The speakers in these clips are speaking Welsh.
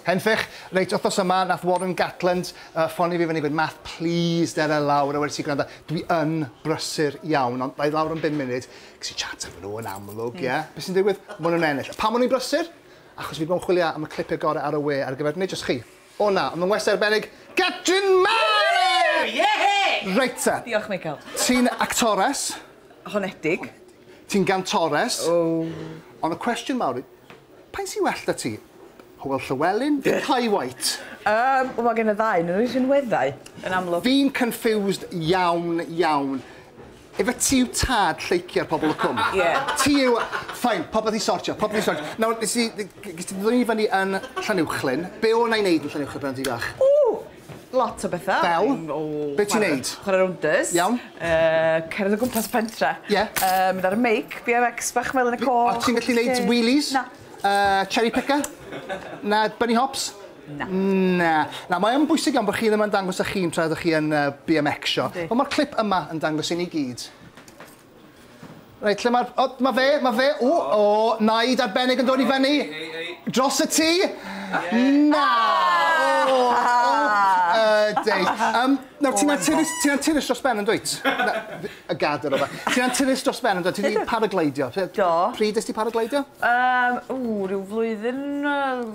Henffych, reit wthnos yma nath Warren Gatland yy ffonio fi fyny gweud Math plîs dere lawr a wedes i gwranda dwi yn brysur iawn ond dda i lawr am bum munud ges i chat efo nhw yn amlwg ie be sy'n digwydd ma' nhw'n ennill a pam o'n i'n brysur achos fi di bod yn chwilio am y clipie gore ar y we ar gyfer nid jyst chi o na ond ma'n westai arbennig Catrin Mary! Yehey! Reit te. Diolch Michael. Ti'n actores. Honedig. Ti'n gantores. O. Ond y cwestiwn mawr i- Paun sy well 'da ti? Hywel Llywelyn neu Kye Whyte? Yym, wel ma' gen y ddau onyn nw eu rhinweddau, yn amlwg. Fi'n confused iawn, iawn. Ife ti yw tad lleucu ar pobol y cwm? Ie. Ti yw... Fine, popeth i sortio, popeth i sortio. Nawr, nes i... Ges ti ddwyn i fyny yn Llanuwchllyn. Be' o' 'na i neud yn Llanuwchllyn pan o' ti fach? Ww! Lot o betha. Fel? Be' ti'n neud? Chware rowndys. Iawn. Yy cerdded o gwmpas y pentre. Ie. Yy mynd ar y meic, BMX bach Melin y Coch. O't ti'n gallu neud wheelies? Na. Yy cherry picker? Na, bunny hops? Na. Na. Na, mae yn bwysig iawn bod chi ddim yn dangos 'ych hun tra ydych chi yn yy BMXio. Yndi. Wel ma'r clip yma yn dangos i ni gyd. Reit, lle mae'r... O, mae fe, mae fe. O, o, naid arbennig yn dod i fyny. Dros y tŷ. Na! O, o, deis. Um, nawr, ti'n anturus, oh ti'n anturus dros ben yn dwyt? Y gad yr ofa. Ti'n anturus dros ben yn dwyt? Ti wedi paragleidio? Do. Pryd ysdi paragleidio? Um, ww, rhyw flwyddyn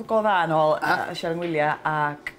go dda yn ôl, uh, Siarad Ngwyliau, ac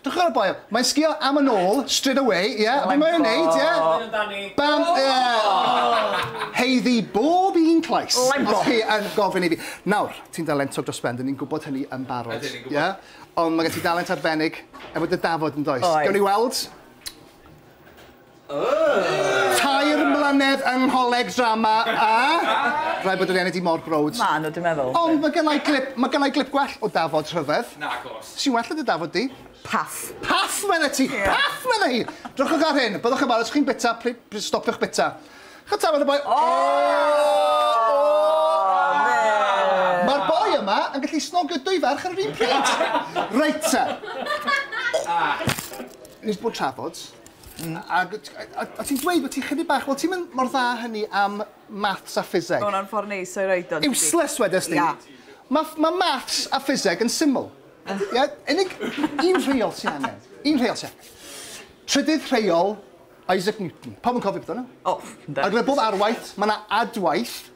Dwch ar y boel. Mae'n sgio am yn ôl, straight away, ie? Yeah. Be mae'n neud, ie? Yeah? Bam, ie! Yeah. Heiddi bob un clais. Os chi yn gofyn i fi. Nawr, ti'n dalentog dros ben, dyn ni'n gwybod hynny yn barod. Ydyn ni'n gwybod. Yeah? Ond mae gen ti dalent arbennig efo dy dafod yn does? Oes. Gawn ni weld? Tair mlynedd yng ngholeg drama a rhaid bod yr enw di mor browd. Maen nhw, dwi'n meddwl. Ond mae gynna i glip, mae gynna i glip gwell o Dafod rhyfedd. Nagos. Sy'n well na dy Dafod di. Paff. Paff medde ti! Ie. Paff medde hi! Drychwch ar hyn, byddwch yn falch os chi'n bita, pli- pli- stopiwch bita. Ch'od tafod y boi? O! O! Ma'r boi yma yn gallu snogio dwy ferch ar yr un pryd! Reit te. Nes bod trafod, Hmm. Ag o' ti o' o' ti'n dweud bo' ti chydig bach, wel ti'm yn mor dda â hynny am maths a ffiseg. Ma' wnna'n ffor neis o'i roid o yndydi? Useless wedes di. Ia. Ma' ff- ma' maths a ffiseg yn syml. Ia? Unig un rheol sy angen. Un rheol sy angen. Trydydd rheol Isaac Newton. Pawb yn cofio amdano? O, yndan. Ar gyfer bob arwaith, ma' 'na adwaith.